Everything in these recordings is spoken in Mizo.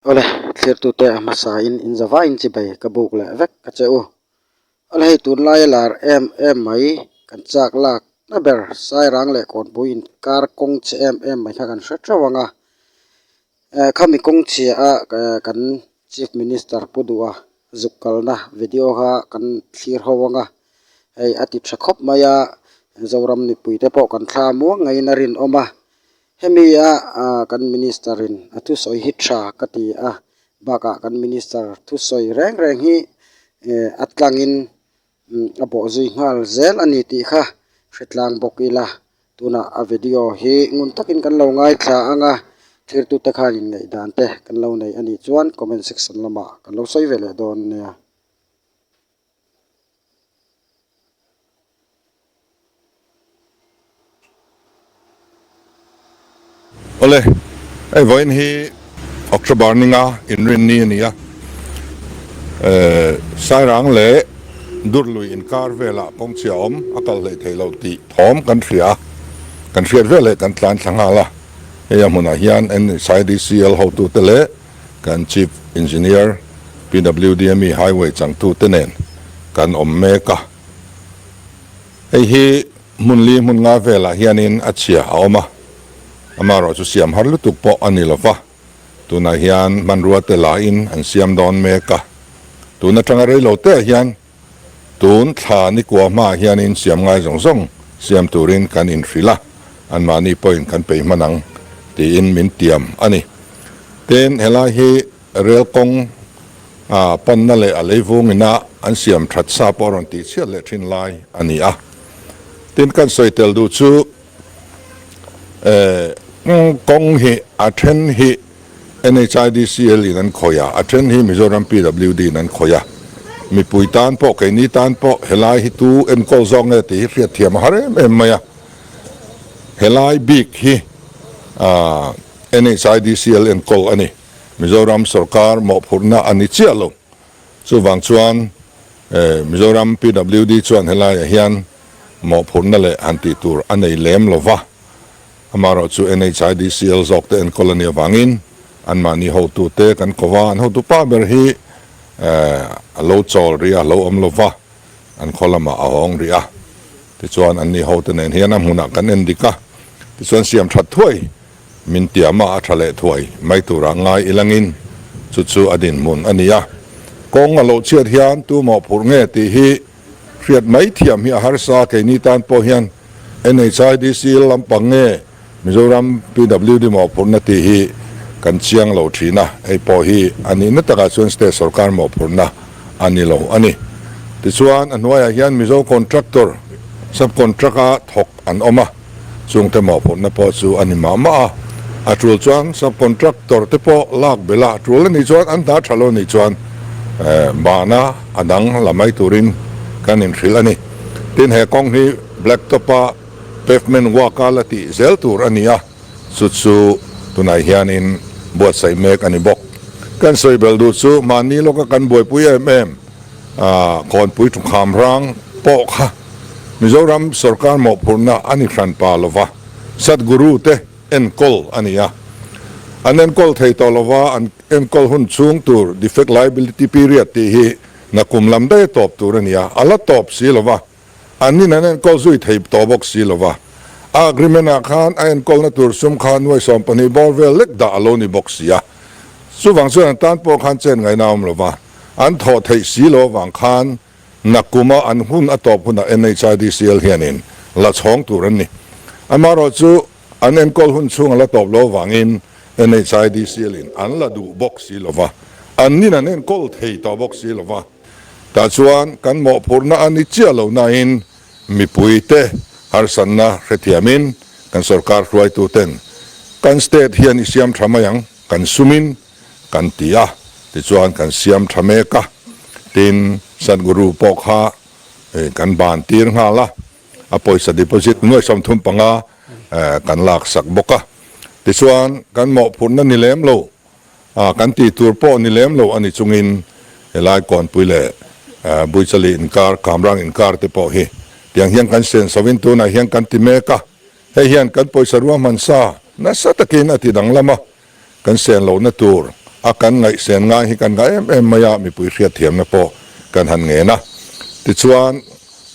Awle, thlirtute a hmasain in zavain chi bai ka buk leh vek ka che u. Awle hei tunlaia lar em em mai kan chak lak na ber Sairang leh Kawnpui in kar kawng che em em mai kha kan hre teuh ang a. Eh, khami kawngchhia a kan Chief Minister Pu Duha zuk kalna video kha kan thlir ho ang a. Hei a ti tha khawp mai a, Zoram mipuite pawh kan thla muang ngeiin a rinawm a. Hemi a kan Minister in a thusawi hi tha ka ti a bakah kan Minister thusawi reng reng hi a tlangin a bawh zui nghal zel a ni tih kha hre tlang bawk ila tunah a video hi ngun takin kan lo ngaithla anga thirtute khan inngaih dan te kan lo nei a nih chuan comment section lamah kan lo sawi ve leh dawn nia. Awle, hei vawiin hi October ninga inrin ni a ni a, Sairang leh Durhlui inkar velah kawng chhia awm a kal hlei thei lo tih thawm kan hria a, kan hriat veleh kan tlan thla nghal a, hei a hmunah hian NHIDCL hotute leh. kan Chief Engineer, PWDME Highway changtu te nen kan awm mek a. Hei hi hmun li hmun nga velah hianin a chhia a awm a, amaherawh chu siam har lutuk pawh a ni lova, tunah hian hmanruate lahin an siam dawn mek a. Tun atanga rei lo teh ah hian Tun thla nikuah hmaah hianin siam ngai zawng zawng siam turin kan inhrilh a, anmahni pawhin kan pei hman ang tiin min tiam a ni. Tin, helai hi rel kawng a panna leh a leivung ina an siam that sa pawh a rawn tih chhiat leh thin lai a ni a. Tin, kan sawi tel duh chu, kawng hi a then hi NHIDCL in an khawih a, a then hi Mizoram PWD in an khawih a, mipui tan pawh, keini tan pawh helai hi tu enkawl zawk nge tih hi hriatthiam a har em em mai a, helai bik hi NHIDCL enkawl a ni, Mizoram sorkar mawhphurhna a ni chiah lo. Chuvang chuan Mizoram PWD chuan helaiah hian mawhphurhna leh han tih tur a nei lem lo va, amaherawh chu NHIDCL zawk te en colony avangin anmahni hotu te kan ko va, an hotu pah ber hi a lo chawl rih a, a lo awm lo va, an khaw lamah a awng rih a, tichuan anni hote nen hian a hmunah kan en dik a, tichuan siam that thuai. Min ti a mah a tha leh thuai mai turah ngai i langin chu chu a dinhmun a ni a. Kawng a loh chiat hian tu maw phurh nge tih hi hriat mai thiam hi a harsa a, keini tan pawh hian NHIDC lampang nge Mizoram PWD maw phurhna tih hi kan chiang lo thin a, hei pawh hi a nihna takah chuan state sawrkar maw phurhna a ni lo a ni. Tichuan a hnuaiah hian Mizo Contractor subcontract a thawk an awm a. chungte mawhphurhna pawh chu a ni mah mah a, a tul chuan sub contractor te pawh lak bela tul la nih chuan an hna tha lo nih chuan bahna a dang la mai turin kan inhrilh a ni, tin he kawng hi black top a pavement work a la tih zel tur a ni a, chu chu tunah hianin buatsaih mek a ni bawk, kan sawi belh duh chu mahni lawka kan buaipui em em. Khawnpui Ṭawngkham rang pawh kha Mizoram sorkar mawhphurhna a ni hran pa lo va, Sadhguru te enkawl a ni a. An enkawl thei tawh lo va, an enkawl hun chhung tur, defect liability period, tih hi na kum lam daih a tawp tur a ni a, a la tawp si lo va. An in an enkawl zui thei tawh bawk si lo va, a agreement ah khan a enkawlna tur sum khan nuai sawm pahnih bawr vel lek dah a lo ni bawk si a, chuvang chuan an tan pawh khan chen ngaina a awm lo va, an thawh theih si lo avang khan Nakuma an hun a tawp hun ah NHIDCL hian in la chhawng tur an ni. Amaherawh chu an enkawl hun chhung a la tawp lo avang in NHIDCL in an la duh bawk si lo va, an in an enkawl thei tawh bawk si lo va. Tah chuan kan mawhphurhna a ni chiah lo nain mipuite harsatna hrethiamin kan sorkar hruaituten kan state hian i siam tha mai ang kan sumin kan ti a, tichuan kan siam tha mek a, tin Sadhguru pawh kha kan ban tir nghal a, a pawisa deposit hnuaisam thum panga kan laksak bawk a, tichuan kan mawhphurhna ni lem lo A kan tih tur pawh ni lem lo a ni chungin helai Kuanpui leh Buichali inkar, Kamrang inkar te pawh hi tiang hian kan sian sovin tunah hian kan ti mek a. Hei hian kan pawisa rual hmansa nasa takin a ti danglam a, kan sian lohna tur a kan ngaihsian ngai hi kan ngah em em mai a, mipui hriatthiamna pawh kan han ngen a. Tichuan.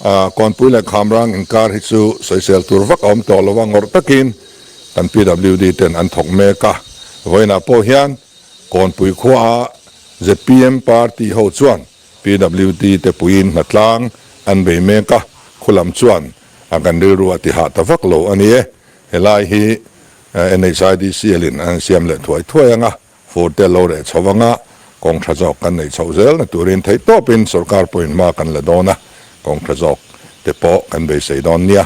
A, Kawnpui leh Khamrang inkar hi chu sawisel tur vak a awm tawh lo a, ngawrh takin kan PWD ten an thawk mek a, vawiinah pawh hian Kawnpui khua a zpm party ho chuan PWD te puiin hnatlang an bei mek a, khulam chuan a kan rilru a tihah ta vak lo a ni e, helai hi NHIDCL-in an siam leh thuai thuai ang a. Furte lo reh chho vang a, kawng tha zawk kan nei chhoh zel na turin theih tawp in sorkar point hma kan la dawn a, kawng tha zawk te pawh kan beisei dawn nia.